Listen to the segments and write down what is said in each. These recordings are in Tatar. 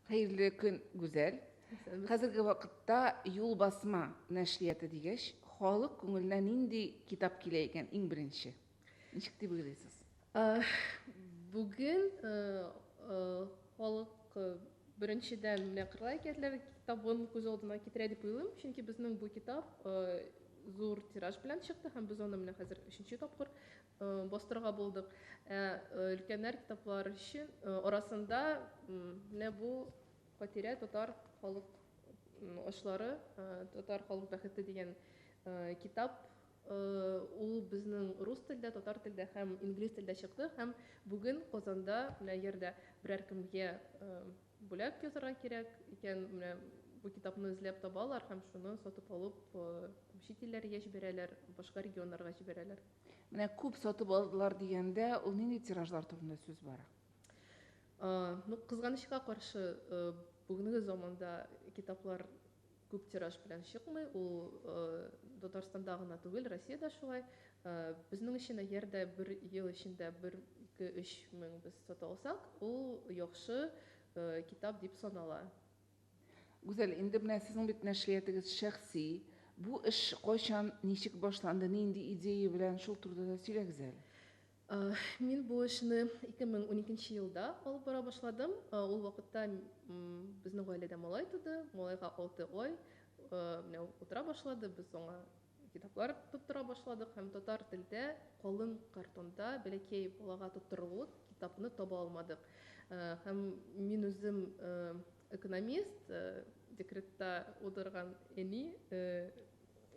Хәерле көн, Гүзәл. Хәзерге вакытта юл басма нәшрияты дигәч, халык күңеленә нинди китап килә икән иң беренче? Ничек дип уйлыйсыз? Бүген халык беренчедән менә Кырлай әкиятләре китабын күз алдына китерә дип уйлыйм, чөнки безнең бу китап зур тираж белән чыкты һәм без аны менә хәзер өченче тапкыр Бастырырга булдык. Ә өлкәннәр китаплары өчен арасында менә бу Хатирә татар халык ашлары, татар халык бәхете дигән китап. Ул безнең рус телдә, татар телдә һәм инглиз телдә чыкты. Һәм бүген Казанда менә йөрдә берәр кемгә бүләк язарга кирәк икән, менә бу китапны эзләп табалар һәм шуны сатып алып чит илләргә җибәрәләр, башка регионнарга җибәрәләр. Менә күп сатып алдылар дигәндә, ул нинди тиражлар турында сүз бара? Ну, кызганычка каршы, бүгенге заманда китаплар күп тираж белән чыкмый. Ул Татарстанда гына түгел, Россиядә шулай. Безнең өчен әгәр дә бер ел эчендә 1-2-3 мең без сата алсак, ул яхшы китап дип санала. Гүзәл, инде менә сезнең бит нәшриятыгыз шәхси. Бу эш кайчан, ничек башланды, нинди идея белән, шул турыда да сөйләгез әле. Мин бу эшне 2012 елда алып бара башладым. Ул вакытта безнең гаиләдә малай туды. Малайга алты ай. Менә ул утыра башлады, без аңа Китаплар тоттыра башладык һәм татар телдә калын картонда бәләкәй балага тоттырырлык китапны таба алмадык. Һәм мин үзем экономист, декретта утырган әни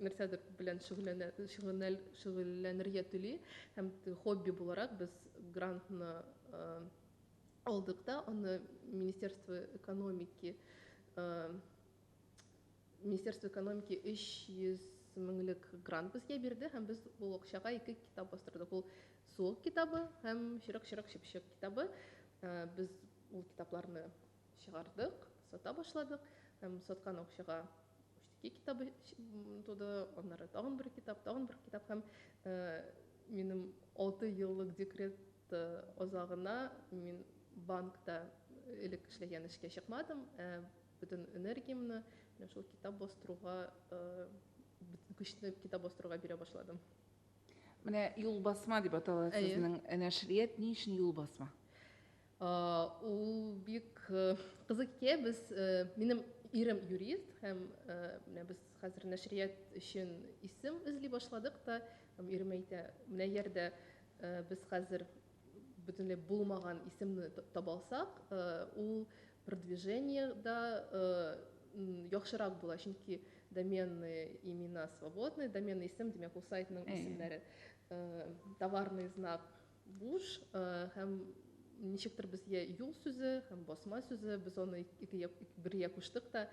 нәрсәдер белән шөгыльләнергә тели һәм хобби буларак без грантны алдык та, аны Министерство экономики Министерство экономики 300 меңлек грант безгә бирде һәм без ул акчага ике китап бастырдык. Ул суык китабы һәм чырык-чырык чыпчык китабы. Без ул китапларны чыгардык, сата башладык һәм саткан акчага Уштики китабы туды, аннары тагын бер китап, тагын бер китап һәм минем 6 еллык декрет азагына мин банкта элек эшләгән эшкә чыкмадым. Бөтен энергиямне менә шул китап бастыруга, бөтен көчне китап бастыруга бирә башладым. Менә юлбасма дип атала сезнең нәшрият ни өчен юлбасма? Ул бик кызык ке без минем ирем юрист һәм менә без хәзер нәшрият өчен исем эзли башладык та ирем әйтә менә ярдә без хәзер бөтенләй булмаган исемне таба алсак ул Продвижение да яхшырак була, чөнки доменные имена свободные, доменный исем, димәк, ул сайтның исемнәре, товарный знак буш һәм ничектер безгә юл сүзе һәм басма сүзе без аны икегә бергә куштык та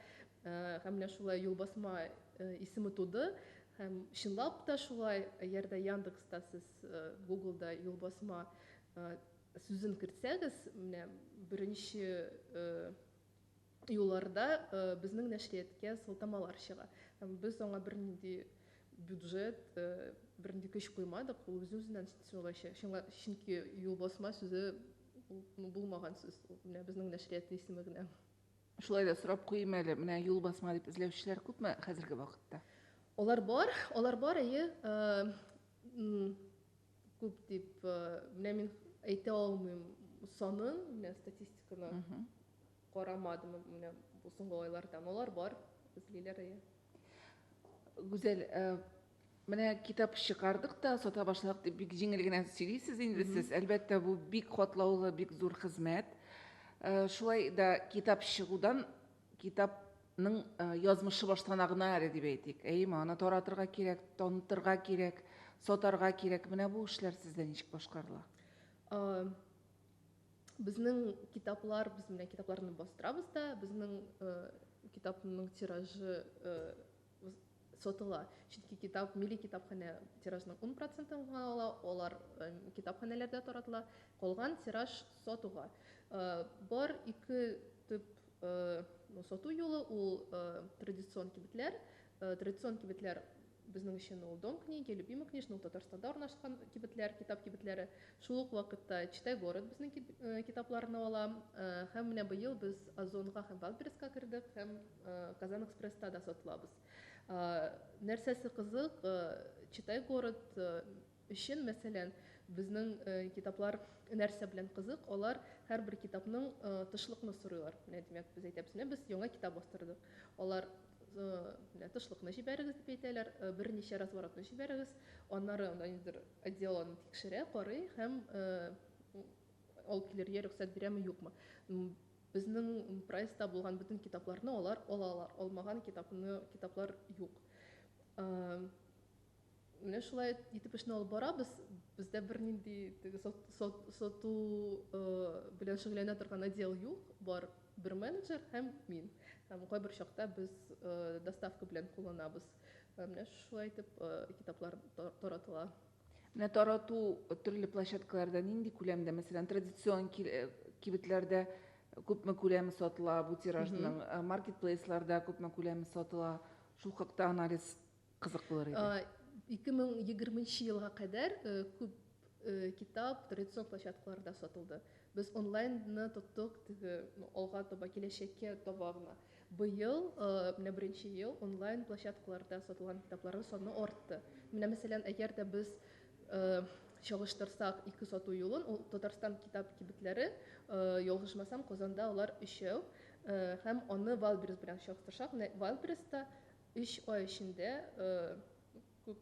һәм менә шулай юл басма исеме туды һәм чынлап та шулай егерде яндекста сез гуглда юл басма Сүзен кертсәгез, менә беренче юлларда безнең нәшрияткә сылтамалар чыга. Һәм без аңа бернинди бюджет, бернинди көч куймадык, ул үзе-үзеннән чыгачак. Чөнки юлбасма сүзе ул булмаган сүз, ул менә безнең нәшрият исеме генә. Шулай да сорап куйыйм әле, менә юлбасма дип эзләүчеләр күпме хәзерге вакытта? Алар бар, алар бар, әйе. Күп дип, менә мин әйтә алмыйм санын, менә статистиканы карамадым, менә бу соңгы айларда, но алар бар, эзлиләр әйе. Гүзәл, менә китап чыгардык та, сата башладык дип бик җиңел генә сөйлисез инде сез. Әлбәттә, бу бик катлаулы, бик зур хезмәт. Шулай да китап чыгудан Китап ның язмышы баштана гына әле дип әйтик. Әйеме, аны таратырга кирәк, танытырга кирәк, сатарга кирәк. Менә бу эшләр сездә ничек башкарыла? Безнең китаплар, без менә китапларны бастырабыз да, безнең китапның тиражы сатыла. Чөнки китап милли китапханә тиражның ун процентын гына ала, алар китапханәләрдә таратыла, калган тираж сатуга. Бар ике төп сату юлы ул традицион кибетләр. Традицион кибетләр безнең өчен ул Дом книги, Любимый книжный, ул Татарстанда урнашкан кибетләр, китап кибетләре. Шул ук вакытта Читай город безнең китапларны ала. Һәм менә быел без Озонга һәм Валбересска кердек һәм Казанэкспресста да сатылабыз. Нәрсәсе кызык, Читай город өчен, мәсәлән, безнең китаплар нәрсә белән кызык, алар һәрбер китапның тышлыкны сорыйлар. Менә, димәк, без әйтәбез, менә без яңа китап бастырдык. Алар, менә тышлыкны җибәрегез, дип әйтәләр, берничә разворотны җибәрегез. Аннары анда ниндидер отдел аны тикшерә, карый һәм алып килергә рөхсәт бирәме, юкмы. Безнең прайста булган бөтен китапларны алар алалар, алмаган китапны китаплар юк. Менә шулай итеп эшне алып барабыз. Бездә бернинди теге сату белән шөгыльләнә торган отдел юк, бар бер менеджер һәм мин. Һәм кайбер чакта без доставка белән кулланабыз. Менә шулай итеп китаплар таратыла. Менә тарату төрле площадкаларда нинди күләмдә, мәсәлән, традицион кибетләрдә күпме күләме сатыла бу тиражның, маркетплейсларда күпме күләме сатыла? Шул хакта анализ кызык булыр иде. 2020 елга кадәр күп китап традицион площадкаларда сатылды. Без онлайнны тоттык, теге алга таба, киләчәккә таба гына. Быел, менә беренче ел, онлайн площадкаларда сатылган китапларның саны артты. Менә, мәсәлән, әгәр дә без чагыштырсак ике сату юлын, ул Татарстан китап кибетләре, ялгышмасам, Казанда алар өчәү, һәм аны Вайлдберрис белән чагыштырсак, менә Вайлдберрисста өч ай эчендә күп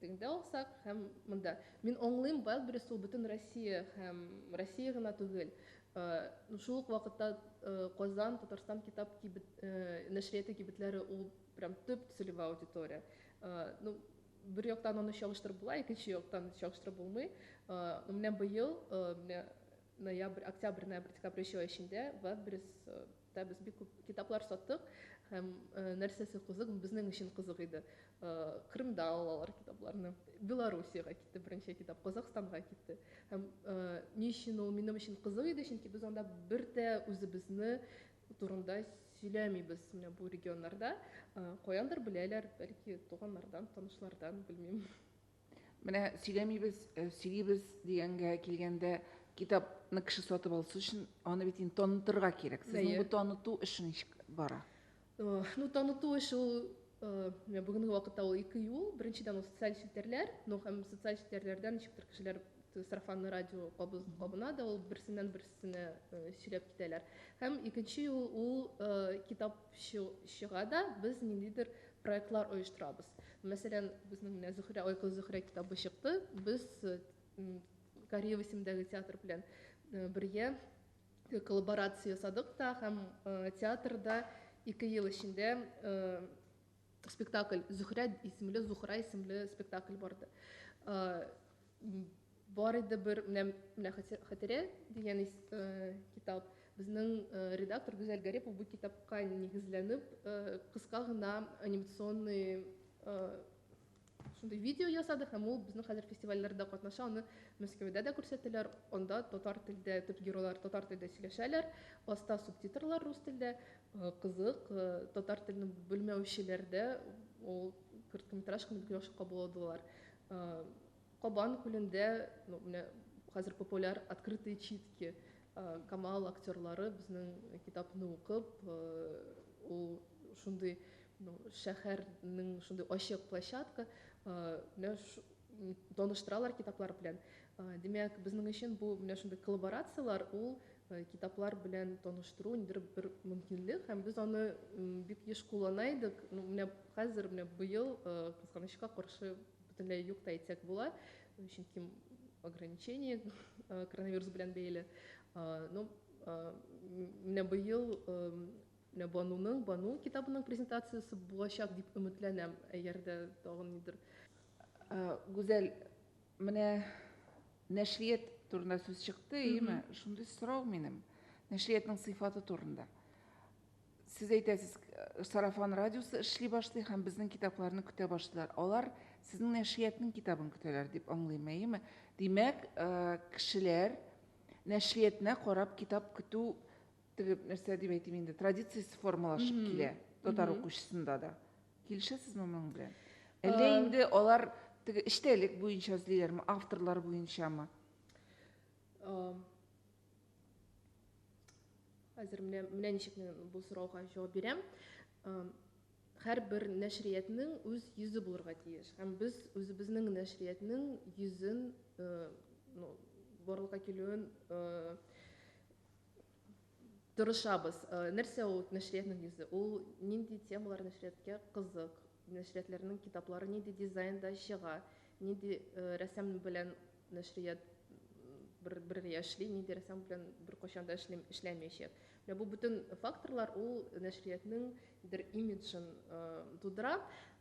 Теңдә алсак, һәм монда. Мин аңлыйм, Wildberries ул бөтен Россия һәм Россия гына түгел, шул ук вакытта Казан, Татарстан китап кибет нәшрияты кибетләре ул прям төп целевая аудитория. Ну, бер яктан аны чагыштырып була, икенче яктан чагыштырып булмый. Ну, менә быел, менә ноябрь, октябрь, ноябрь, декабрь өч ай эчендә Wildberries Да, без бик күп китаплар саттык һәм нәрсәсе кызык, безнең өчен кызык иде. Крымда алалар китапларны. Белоруссиягә китте беренче китап, Казахстанга китте. Һәм ни өчен ул минем өчен кызык иде, чөнки без анда бер дә үзебезне турында сөйләмибез. Менә бу регионнарда каяндыр беләләр, бәлки туганнардан, танышлардан, белмим. Менә сөйләмибез, э, сөйлибез дигәнгә килгәндә, китапны кеше сатып алсы өчен аны бит инде танытырга кирәк. Сезнең бу таныту эше ничек бара? Э, ну, таныту эше ул э, менә бүгенге вакытта ул ике юл. Беренчедән ул социаль челтәрләр, ну һәм социаль челтәрләрдән ничектер кешеләр сарафанлы радио кабыз, кабына да ул берсеннән берсенә сөйләп китәләр. Һәм икенче юл ул китап чыга да без ниндидер Проектлар оештырабыз. Мәсәлән, безнең менә Зөхрә, Ой кыз Зөхрә китабы чыкты. Без Кариево исемендәге театр белән бергә коллаборация ясадык та һәм театрда ике ел эчендә спектакль Зөхрә исемле, Зухра исемле спектакль барды. Бар иде бер менә менә хәтирә дигән китап. Безнең редактор Гүзәл Гарипова бу китапка нигезләнеп кыска гына анимационный шундый видео ясады һәм ул безнең хәзер фестивальләрдә катнаша, аны Мәскәүдә дә күрсәтәләр, анда татар телдә төп геройлар татар телдә сөйләшәләр, аста субтитрлар рус телдә, кызык, татар телен белмәүчеләрдә ул короткометражканы бик яхшы кабул алдылар. Кабан күлендә менә хәзер популяр открытые читки. Камал актерлары безнең китапны укып, ул шундый шәһәрнең шундый ачык площадка, менә таныштыралар китаплар белән. Димәк, безнең өчен бу менә шундый коллаборацияләр ул китаплар белән таныштыру ниндидер бер мөмкинлек һәм без аны бик еш куллана идек. Менә хәзер, менә быел, кызганычка каршы, бөтенләй юк та әйтсәк була, чөнки ограничение э, коронавирус белән бәйле. Э, ну, э, менә быел менә Бануның, Бану китабының презентациясе булачак дип өметләнәм. Әгәр дә тагын нидер. Гүзәл, менә нәшрият турында сүз чыкты, әйеме? Шундый сорау минем. Нәшриятның сыйфаты турында. Сез әйтәсез, э, сарафан радиосы эшли башлый һәм безнең китапларны көтә башлыйлар. Алар сезнең нәшриятның китабын көтәләр дип аңлыйм, әйеме? Димәк, э, кешеләр нәшриятына карап китап көтү теге нәрсә дип әйтим инде, традициясе формалашып килә татар укучысында да. Килешәсезме моның белән? Әллә э, инде алар теге эчтәлек буенча эзлиләрме, авторлар буенчамы? Э, Хәзер менә менә ничек бу сорауга җавап бирәм. Һәрбер нәшриятның үз йөзе булырга тиеш. Һәм без үзебезнең нәшриятның йөзен, ну, барлыкка килүен тырышабыз. Нәрсә ул нәшриятның йөзе? Ул нинди темалар нәшрияткә кызык? Нәшриятләрнең китаплары нинди дизайнда чыга, нинди рәсем белән нәшрият бергә эшли, нинди рәсем белән беркайчан да эшләмәячәк. Менә бу бөтен факторлар ул нәшриятның бер имиджын тудыра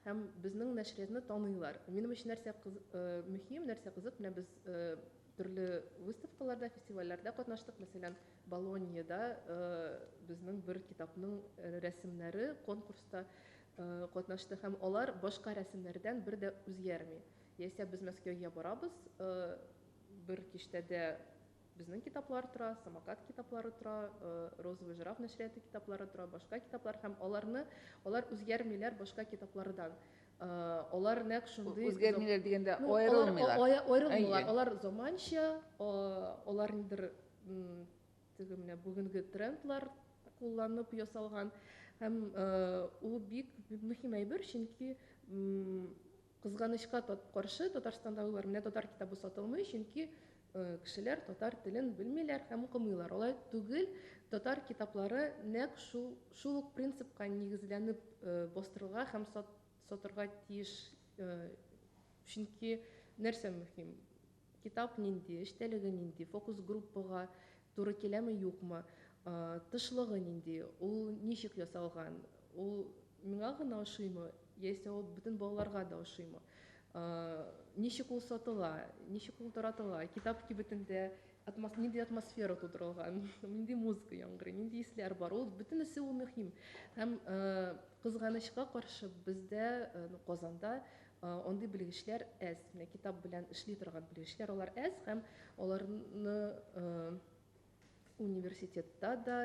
һәм безнең нәшриятны таныйлар. Минем өчен нәрсә мөһим, нәрсә кызык, менә без төрле выставкаларда, фестивальләрдә катнаштык. Мәсәлән, Болоньеда безнең бер китапның рәсемнәре конкурста Катнашты һәм алар башка рәсемнәрдән бер дә үзгәрми. Яисә без Мәскәүгә барабыз, бер киштәдә безнең китаплар тора, Самокат китаплары тора, Розовый жираф нәшрияты китаплары тора, башка китаплар һәм аларны, алар үзгәрмиләр башка китаплардан. Алар нәкъ шундый Үзгәрмиләр дигәндә, аерылмыйлар. Аерылмыйлар. Алар заманча, алар нидер Теге менә бүгенге трендлар кулланып ясалган һәм ул бик мөһим әйбер, чөнки кызганычка каршы Татарстанда уйлар менә татар китабы сатылмый, чөнки кешеләр татар телен белмиләр һәм укымыйлар. Алай түгел, татар китаплары нәкъ шул шул ук принципка нигезләнеп бастырылга һәм сатырга тиеш, чөнки нәрсә мөһим? Китап нинди, эчтәлеге нинди, фокус-группага туры киләме, юкмы, тышлыгы нинди, ул ничек ясалган, ул миңа гына ошыймы, яисә ул бөтен балаларга да ошыймы, ничек ул сатыла, ничек ул таратыла, китап кибетендә нинди атмосфера тудырылган, нинди музыка яңгырый, нинди исләр бар, ул бөтенесе ул мөһим. Һәм, кызганычка каршы, бездә, Казанда Андый белгечләр әз, менә китап белән эшли торган белгечләр алар әз һәм аларны университетта да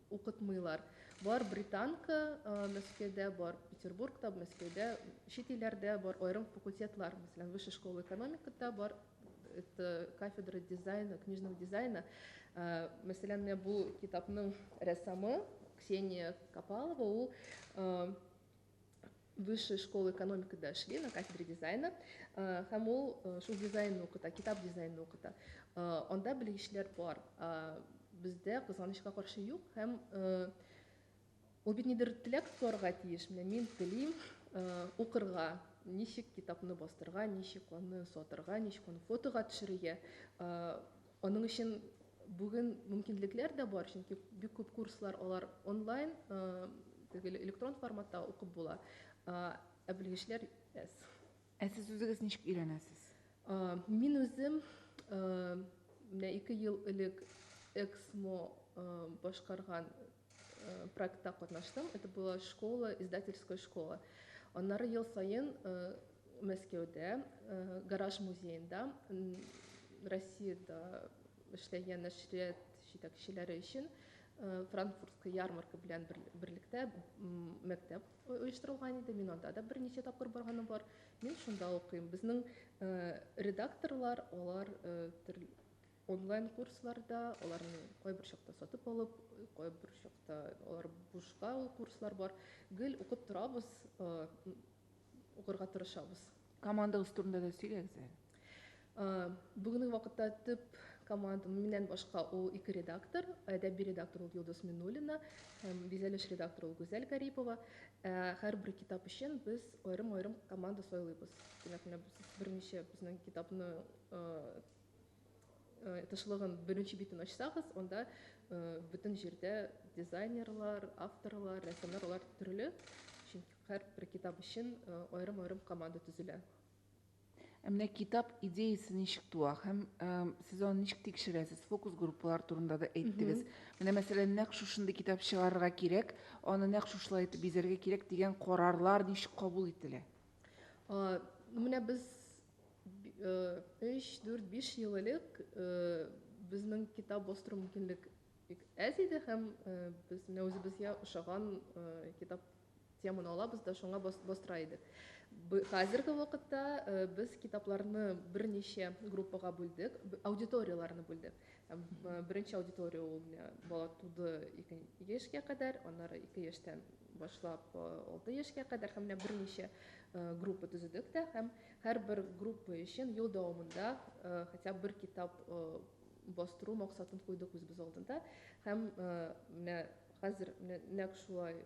укытмыйлар. Бар британка Мәскәүдә, бар Петербургта, Мәскәүдә, чит илләрдә бар аерым факультетлар, мәсәлән, Высшая школа экономикада бар это кафедра дизайна, книжного дизайна. Мәсәлән, менә бу китапның рәссамы Ксения Капалова, ул высшей школы экономика да эшли на кафедре дизайна һәм ул шул дизайнны укыта китап дизайнны укыта анда белгечләр бар бездә кызганычка каршы юк һәм ул бит нидер теләк сорарга тиеш менә мин телим укырга ничек китапны бастырга ничек аны сатырга ничек аны фотога төшерергә Аның өчен бүген мөмкинлекләр дә бар, чөнки бик күп курслар алар онлайн, теге электрон форматта укып була. Ә белгечләр әз. Ә сез үзегез ничек өйрәнәсез? Мин үзем менә ике ел элек Эксмо башкарган Э, проектта катнаштым. Это была школа, издательская школа. Аннары ел саен э, Мәскәүдә, э, гараж музеенда, Россияда эшләгән нәшрият җитәкчеләре өчен франкфуртская ярмарка белән берлектә мәктәп оештырылган иде. Мин анда да берничә тапкыр барганым бар. Мин шунда укыйм. Безнең редакторлар, алар Онлайн курсларда аларны кайбер чакта сатып алып, кайбер чакта алар бушка ул курслар бар. Гел укып торабыз, укырга тырышабыз. Командагыз турында да сөйләгез әле. Бүгенге вакытта төп команда миннән башка ул ике редактор, әдәби редактор ул Йолдыз Минуллина һәм бизәлеш редактор ул Гүзәл Гарипова. Һәрбер китап өчен без аерым-аерым команда сайлыйбыз. Димәк, менә без берничә безнең китапны Э, тышлыгын беренче битен ачсагыз анда э, бөтен җирдә дизайнерлар авторлар рәссамнар алар төрле чөнки һәрбер китап өчен э, аерым аерым команда төзелә ә менә китап идеясы ничек туа һәм сез аны ничек тикшерәсез фокус группалар турында да әйттегез менә мәсәлән нәкъ шушындый китап чыгарырга кирәк аны нәкъ шушылай итеп бизәргә кирәк дигән карарлар ничек кабул ителә менә без Өч, дүрт, биш ел элек безнең китап бастыру мөмкинлек әз иде һәм без менә үзебезгә ошаган китап теманы алабыз да шуңа бастыра идек. Хәзерге вакытта без китапларны берничә группага бүлдек, аудиторияләрне бүлдек. Беренче аудитория ул менә бала туды ике яшькә кадәр, аннары ике яшьтән башлап алты яшькә кадәр һәм менә берничә группа төзедек тә һәм Һәрбер группа өчен ел дәвамында хотя бы бер китап бастыру максатын куйдык үзебез алдында. Һәм менә хәзер менә нәкъ шулай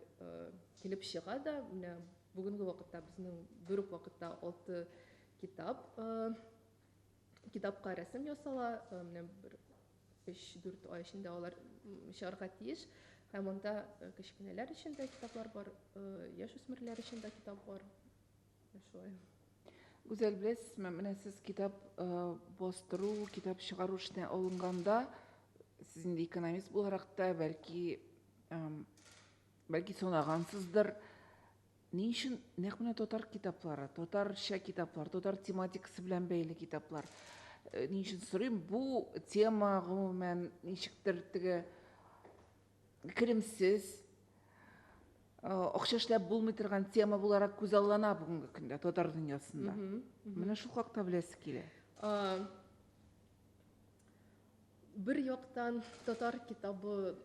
килеп чыга да. Менә бүгенге вакытта безнең бер үк вакытта алты китап китапка рәсем ясала. Менә бер өч-дүрт ай эчендә алар чыгарга тиеш. Һәм анда кечкенәләр өчен дә китаплар бар, яшүсмерләр өчен дә китап бар. Гүзәл, беләсезме, менә сез китап бастыру, китап чыгару эшенә алынганда, сез инде экономист буларак та, бәлки, бәлки санагансыздыр, ни өчен нәкъ менә татар китаплары, татарча китаплар, татар тематикасы белән бәйле китаплар? Ни өчен сорыйм, бу тема гомумән ничектер теге керемсез, акча эшләп булмый торган тема буларак күзаллана бүгенге көндә татар дөньясында. Менә шул хакта беләсе килә. Бер яктан татар китабы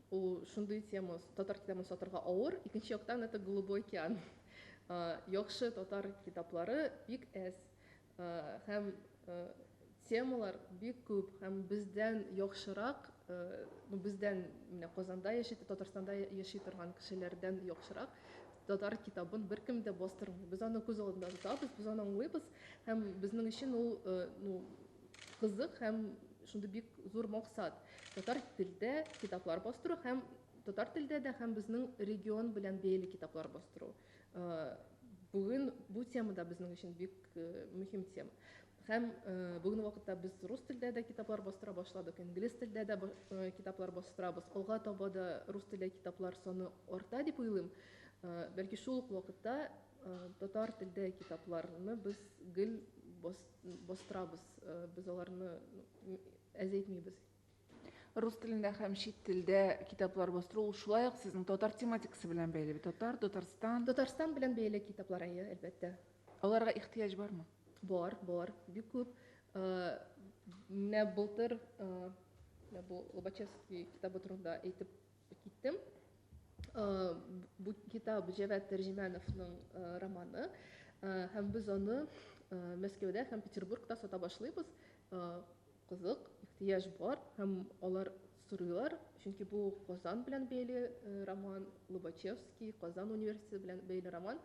ул шундый тема, татар китабын сатырга авыр, икенче яктан это голубой океан. Яхшы татар китаплары бик әз. Һәм темалар бик күп, һәм бездән яхшырак, ну бездән менә Казанда яши, Татарстанда яши торган кешеләрдән яхшырак татар китабын беркем дә бастырмый. Без аны күз алдында тотабыз, без аны аңлыйбыз, һәм безнең өчен ул ну кызык һәм шундый бик зур максат. Татар телдә китаплар бастыру һәм татар телдә дә һәм безнең регион белән бәйле китаплар бастыру. Бүген бу тема да безнең өчен бик мөһим тема. Һәм бүгенге вакытта без рус телдә дә китаплар бастыра башладык, инглиз телдә дә китаплар бастырабыз. Алга таба да рус телле китаплар саны арта дип уйлыйм. Бәлки шул ук вакытта татар телдә китапларны без гел бастырабыз, без аларны әзәйтмибез. Рус телендә һәм чит телдә китаплар бастыру ул шулай ук сезнең татар тематикасы белән бәйле бит. Татар, Татарстан. Татарстан белән бәйле китаплар, әйе, әлбәттә. Аларга ихтыяҗ бармы? Бар, бар, бик күп. Э, менә былтыр э, менә бу Лобачевский китабы турында әйтеп киттем. Э, бу китап Җәвәт Тәрҗемәновның романы һәм без аны Мәскәүдә һәм Петербургда сата башлыйбыз. Кызык, ихтыяҗ бар һәм алар сорыйлар, чөнки бу Казан белән бәйле роман, Лобачевский, Казан университеты белән бәйле роман.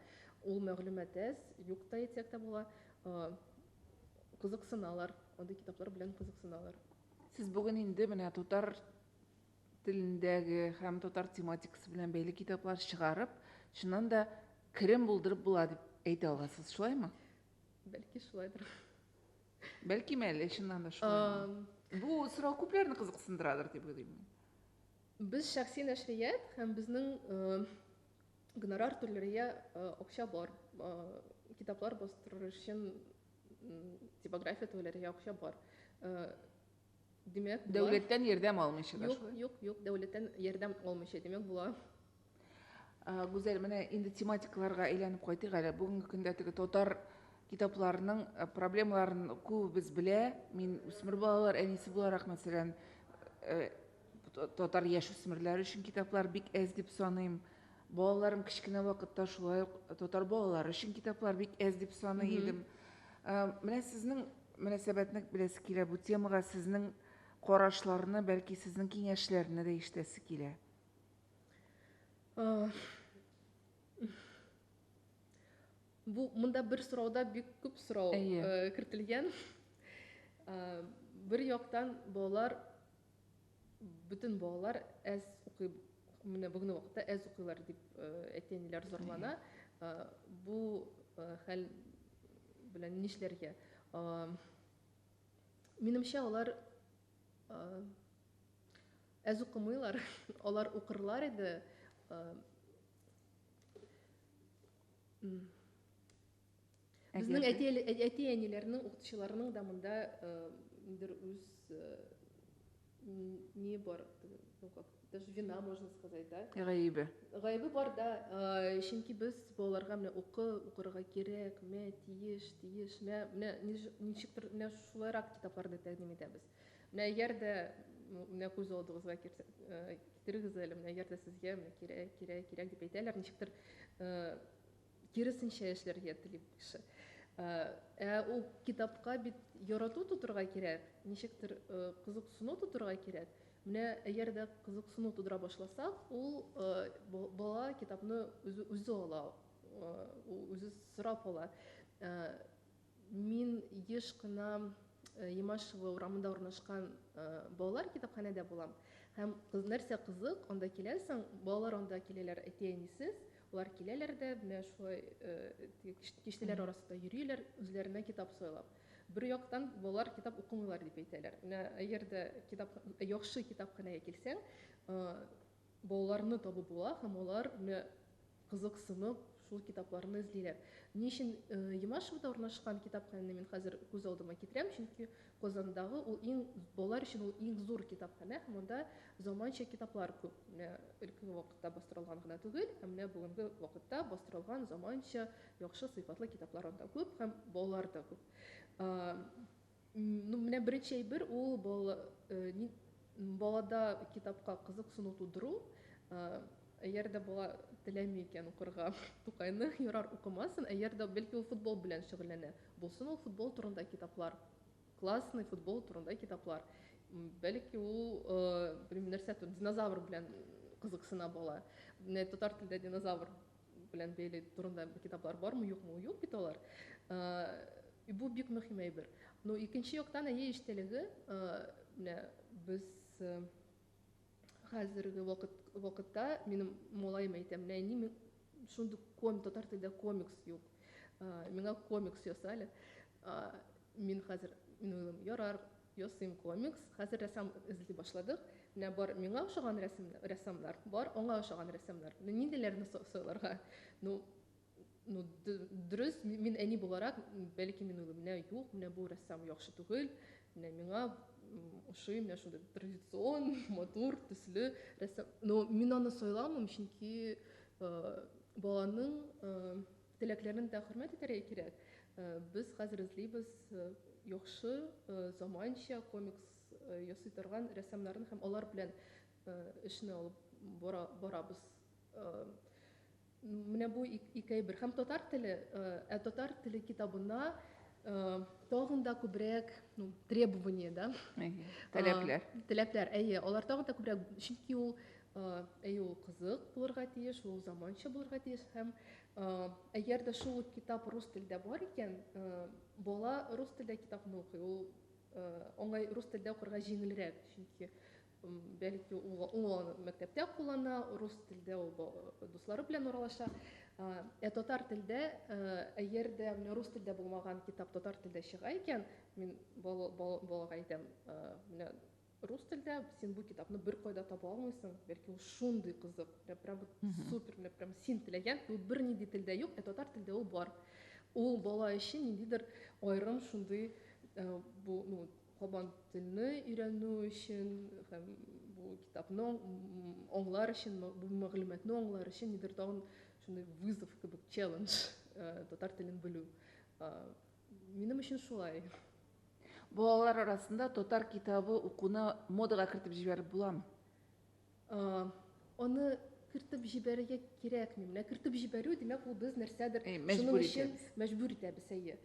Ул мәгълүмат әз, юк та әйтсәк тә була. Кызыксыналар, андый китаплар белән кызыксыналар. Сез бүген инде менә татар телендәге һәм татар тематикасы белән бәйле китаплар чыгарып, чыннан да керем булдырып була дип әйтә аласыз, шулаймы? Бәлки шулайдыр. Бәлкем әле чыннан да шулай. Бу сорау күпләрне кызыксындырадыр дип уйлыйм. Без шәхси нәшрият һәм безнең гонорар түләргә акча бар. Китаплар бастырыр өчен типография түләргә акча бар. Димәк, дәүләттән ярдәм алмыйча да шулай. Юк, юк, дәүләттән ярдәм алмыйча, димәк, була. Гүзәл, менә инде тематикаларга әйләнеп кайтыйк әле. Бүгенге көндә теге татар китапларының э, проблемаларын күбебез белә. Мин үсмер балалар әнисе буларак, мәсәлән, э, татар яшь үсмерләре өчен китаплар бик әз дип саныйм. Балаларым кечкенә вакытта шулай ук татар балалары өчен китаплар бик әз дип саный идем. Э, менә сезнең мөнәсәбәтне беләсе килә бу темага, сезнең карашларны, бәлки сезнең киңәшләрне дә ишетәсе килә. Э, бу монда бер сорауда бик күп сорау э, кертелгән. Бер яктан балалар Бөтен балалар әз укый, менә бүгенге вакытта әз укыйлар дип әти-әниләр зарлана. Бу хәл белән нишләргә? Минемчә, алар әз укымыйлар, алар укырлар иде. Безнең әти-әниләрнең, укытучыларның да монда ниндидер үз не бар, ну как, даже вина, можно сказать, да? Гаебе. Гаебе бар, да. Чөнки без балаларга менә укы, укырга кирәк, мә, тиеш, тиеш, мә, менә ничектер менә шулайрак китапларны тәкъдим итәбез. Менә әгәр дә менә күз алдыгызга китерегез әле, менә әгәр дә сезгә кирәк, кирәк, кирәк дип әйтәләр, ничектер Киресенчә эшләргә тели бу кеше. Ә ул китапка бит ярату тудырырга кирәк, ничектер кызыксыну тудырырга кирәк. Менә әгәр дә кызыксыну тудыра башласак, ул бала китапны үзе ала, ул үзе сорап ала. Мин еш кына Ямашево урамында урнашкан балалар китапханәдә булам. Һәм нәрсә кызык, анда киләсең, балалар анда киләләр әти-әнисез, алар киләләр дә, менә шулай киштәләр арасында йөриләр, үзләренә китап сайлап. Бер яктан балалар китап укымыйлар дип әйтәләр. Менә әгәр дә китап яхшы китапханәгә килсәң, Балаларны табып була һәм алар, менә кызыксынып, шул китапларны эзлиләр. Ни өчен Ямашевода урнашкан китапханәне мин хәзер күз алдыма китерәм, чөнки Казандагы ул иң, балалар өчен ул иң зур китапханә һәм анда заманча китаплар күп. Менә элеккеге вакытта бастырылган гына түгел, ә менә бүгенге вакытта бастырылган заманча, яхшы сыйфатлы китаплар анда күп һәм балалар да күп. Ну, менә беренче әйбер ул бала, э, балада китапка кызыксыну тудыру. Э, әгәр дә бала теләми икән укырга Тукайны, ярар укымасын, әгәр дә бәлки ул футбол белән шөгыльләнә, булсын ул футбол турында китаплар. Классный футбол турында китаплар. Бәлки ул, э, белмим, нәрсә, динозавр белән кызыксына бала. Менә татар телендә динозавр белән бәйле турында китаплар бармы юкмы юк бит алар и бу бик мөһим әйбер но икенче яктан әйе эчтәлеге менә без хәзерге вакыт вакытта минем малаем әйтә менә әни мин шундый ком татар телдә комикс юк миңа комикс яса әле мин хәзер мин уйлыйм ярар Ясыйм комикс, хәзер рәссам эзли башладык. Менә бар миңа ошаган рәсемнәр, рәссамнар, бар аңа ошаган рәссамнар. Ну нинди-ләрне сайларга? Ну, ну дөрес, мин әни буларак, бәлки мин уйлыйм, менә юк, менә бу рәссам яхшы түгел, менә миңа ошый, менә шундый традицион, матур, төсле рәссам. Ну мин аны сайламыйм, чөнки баланың Теләкләрен дә хөрмәт итәргә кирәк. Без хәзер эзлибез яхшы, заманча комикс ясый торган рәссамнарны һәм алар белән эшне алып барабыз. Менә бу ике әйбер. Һәм татар теле, ә татар теле китабына тагын да күбрәк требование, да? Теләкләр. Теләкләр, әйе. Алар тагын да күбрәк, чөнки ул Әйе, ул кызык булырга тиеш, ул заманча булырга тиеш. Һәм әгәр дә шул ук китап рус телдә бар икән, бала рус телдә китапны укый. Ул аңа рус телдә укырга җиңелрәк, чөнки бәлки ул аны мәктәптә куллана, рус телдә ул дуслары белән аралаша. Ә татар телдә, әгәр дә менә рус телдә булмаган китап татар телдә чыга икән, мин балага әйтәм, менә Рус телдә син бу китапны беркайда таба алмыйсың, бәлки ул шундый кызык, менә прям вот супер, менә прям син теләгән, ул бернинди телдә юк, ә татар телдә ул бар. Ул бала өчен ниндидер аерым шундый э, бу, ну, кабан телне өйрәнү өчен һәм бу китапны аңлар өчен, бу мәгълүматны аңлар өчен нидер тагын шундый вызов кебек, челлендж, э, татар телен белү. Э, минем өчен шулай. Балалар арасында татар китабы укуны модага кертеп җибәреп буламы? Аны кертеп җибәрергә кирәкми. Менә кертеп җибәрү, димәк, ул без нәрсәдер шуның өчен мәҗбүр итәбез, әйе.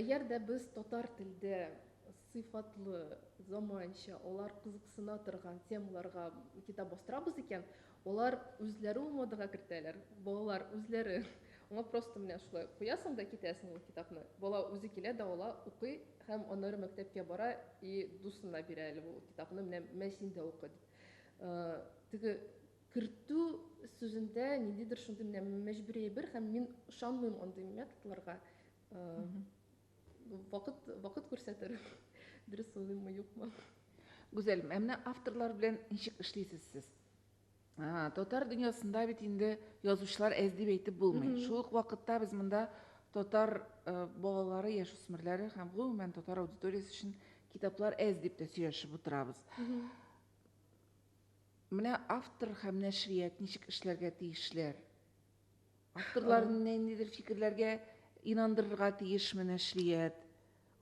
Әгәр дә без татар телдә сыйфатлы, заманча, алар кызыксына торган темаларга китап бастырабыз икән, Алар үзләре ул модага кертәләр, балалар үзләре. Аңа просто менә шулай куясың да китәсең ул китапны. Бала үзе килә дә ала, укый һәм аннары мәктәпкә бара и дусына бирә әле бу китапны, менә мә син дә укы дип. Теге кертү сүзендә ниндидер шундый менә мәҗбүри әйбер һәм мин ышанмыйм андый методларга. Вакыт, вакыт күрсәтер, дөрес сулыйммы, юкмы. Гүзәл, ә менә авторлар белән ничек эшлисез сез? А, татар дөньясында бит инде язучылар әз дип әйтеп булмый. Шул ук вакытта без монда татар э, балалары, яшүсмерләре һәм гомумән татар аудиториясе өчен китаплар әз дип тә сөйләшеп утырабыз. Менә автор һәм нәшрият ничек эшләргә тиешләр? Авторларны ниндидер фикерләргә инандырырга тиешме нәшрият?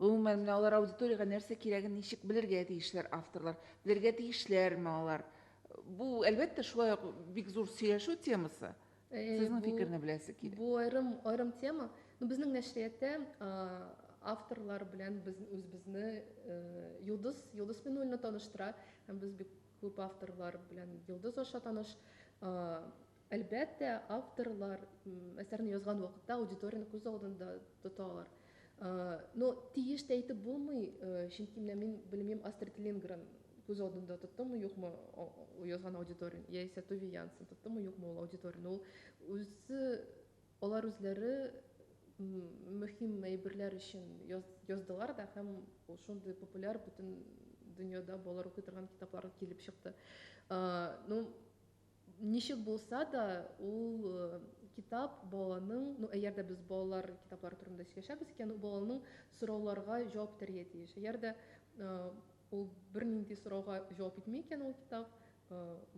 Гомумән, менә алар аудиториягә нәрсә кирәген ничек белергә тиешләр авторлар? Белергә тиешләрме алар? Бу, әлбәттә, шулай ук бик зур сөйләшү темасы. Э, Сезнең фикерне беләсе килә. Бу аерым аерым тема. Ну, безнең нәшриятта авторлар белән без үзебезне э, Йолдыз Йолдыз Минуллина таныштыра һәм без бик күп авторлар белән Йолдыз аша таныш. Әлбәттә, авторлар әсәрне язган вакытта аудиторияне күз алдында тоталар. Но тиеш тә әйтеп булмый, чөнки менә мин белмим Астрид Лингрен күз алдында тоттымы, юкмы язган аудиториян, яисә Туви Янсен тоттымы, юкмы ул аудиториян. Ул үзе, алар үзләре мөһим әйберләр өчен яздылар да һәм шундый популяр бөтен дөньяда балалар укый торган китаплар килеп чыкты. Ну, Ничек булса да, ул китап баланың, ну, әгәр дә без балалар китаплары турында сөйләшәбез икән, ул баланың сорауларга җавап итәргә тиеш. Әгәр дә ул бернинди сорауга җавап итми икән ул китап,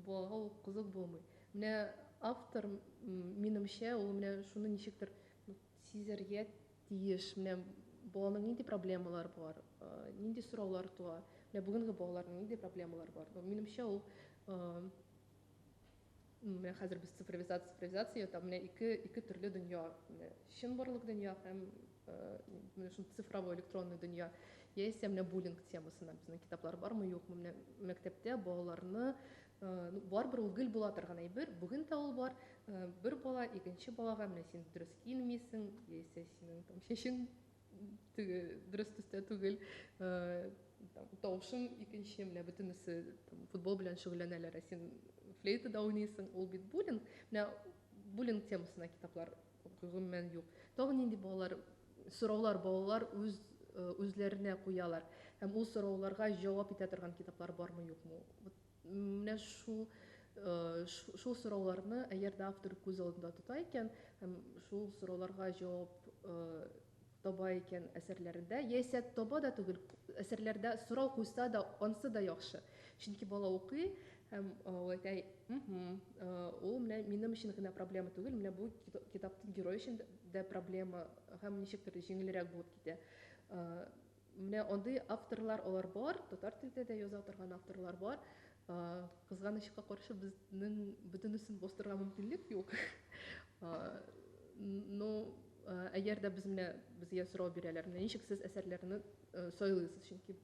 балага ул кызык булмый. Менә автор, минемчә, ул менә шуны ничектер сизәргә тиеш, менә баланың нинди проблемалары бар, нинди сораулар туа, менә бүгенге балаларның нинди проблемалары бар. Ну, минемчә, ул менә хәзер без цифровизация, цифровизация ята, менә ике, ике төрле дөнья, менә чын барлык дөнья һәм менә шул цифровой электронный дөнья. Яисә менә буллинг темасына безнең китаплар бармы, юкмы, менә мәктәптә балаларны Ну, барыбер ул гел була торган әйбер. Бүген дә ул бар. Бер бала икенче балага менә син дөрес килмисең, яисә синең там чәчең теге дөрес төстә түгел, там тавышың икенче, менә бөтенесе там футбол белән шөгыльләнәләр, ә син флейтада уйныйсың. Ул бит буллинг. Менә буллинг темасына китаплар Гомумән юк. Тагын нинди балалар, сораулар балалар үз, үзләренә куялар? Һәм ул сорауларга җавап итә торган китаплар бармы, юкмы? Вот менә шул, шул сорауларны әгәр дә автор күз алдында тота икән һәм шул сорауларга җавап таба икән әсәрләрендә, яисә таба да түгел, әсәрләрдә сорау куйса да, ансы да яхшы. Чөнки бала укый һәм ул әйтә, ул менә минем өчен генә проблема түгел, менә бу китаптың герое өчен дә проблема һәм ничектер җиңелрәк булып китә. Менә андый авторлар алар бар, татар телдә дә яза торган авторлар бар. Кызганычка каршы, безнең бөтенесен бастырырга мөмкинлек юк. Но әгәр дә без менә безгә сорау бирәләр, менә ничек сез әсәрләрне сайлыйсыз, чөнки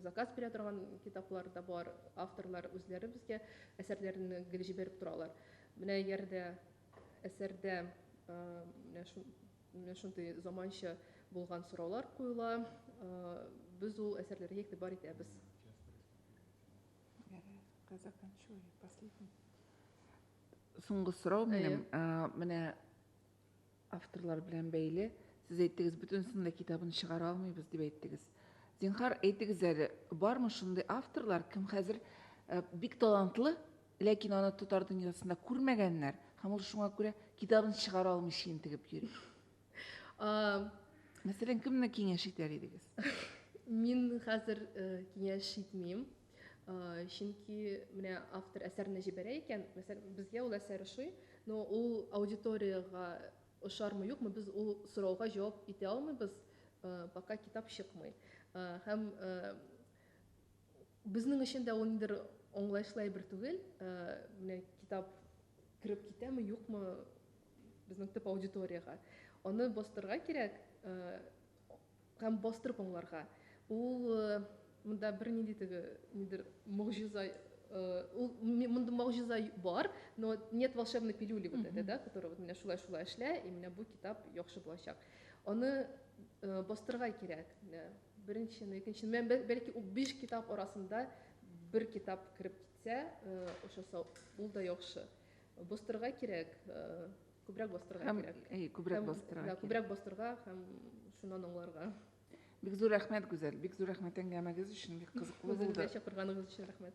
заказ бирә торган китаплар да бар, авторлар үзләре безгә әсәрләрен гел җибәреп торалар. Менә әгәр дә әсәрдә менә Менә шундый заманча булган сораулар куела. Без ул әсәрләргә игътибар итәбез. Соңгы сорау минем, менә авторлар белән бәйле. Сез әйттегез, бөтенесен дә китабын чыгара алмыйбыз дип әйттегез. Зинхар, әйтегез әле, бармы шундый авторлар, кем хәзер бик талантлы, Ләкин аны татар дөньясында күрмәгәннәр, һәм ул шуңа күрә китабын чыгара алмый чиен тегеп йөри. Мәсәлән, кемне киңәш итәр идегез? Мин хәзер э, киңәш итмим. Э, чөнки менә автор әсәрне җибәрә икән, мәсәлән, безгә ул әсәр ошый, но ул аудиториягә ошармы юкмы, без ул сорауга җавап итә алмыйбыз, э, пока китап чыкмый. Һәм Безнең өчен дә ул ниндидер аңлаешлы әйбер түгел. Менә китап кереп китәме, юкмы безнең төп аудиториягә. Аны бастырга кирәк һәм бастырып аңларга. Ул монда бернинди теге нидер могҗиза ул монда могҗиза бар, но нет волшебной пилюли вот это, да, которая вот менә шулай шулай эшлә, и менә бу китап яхшы булачак. Аны бастырга кирәк. Беренчене, икенчене, мен бел- бәлки ул биш китап арасында бер китап кереп китсә, э, ошаса, ул да яхшы. Бастырга кирәк, э, күбрәк бастырга Һәм, кирәк. әй, күбрәк Һәм, бастырырга да, кирәк. Күбрәк бастырга һәм шуннан аңларга. Бик зур рәхмәт, Гүзәл. Бик зур рәхмәт әңгәмәгез өчен. Бик кызыклы Үзегезгә булды. чакырганыгыз өчен рәхмәт.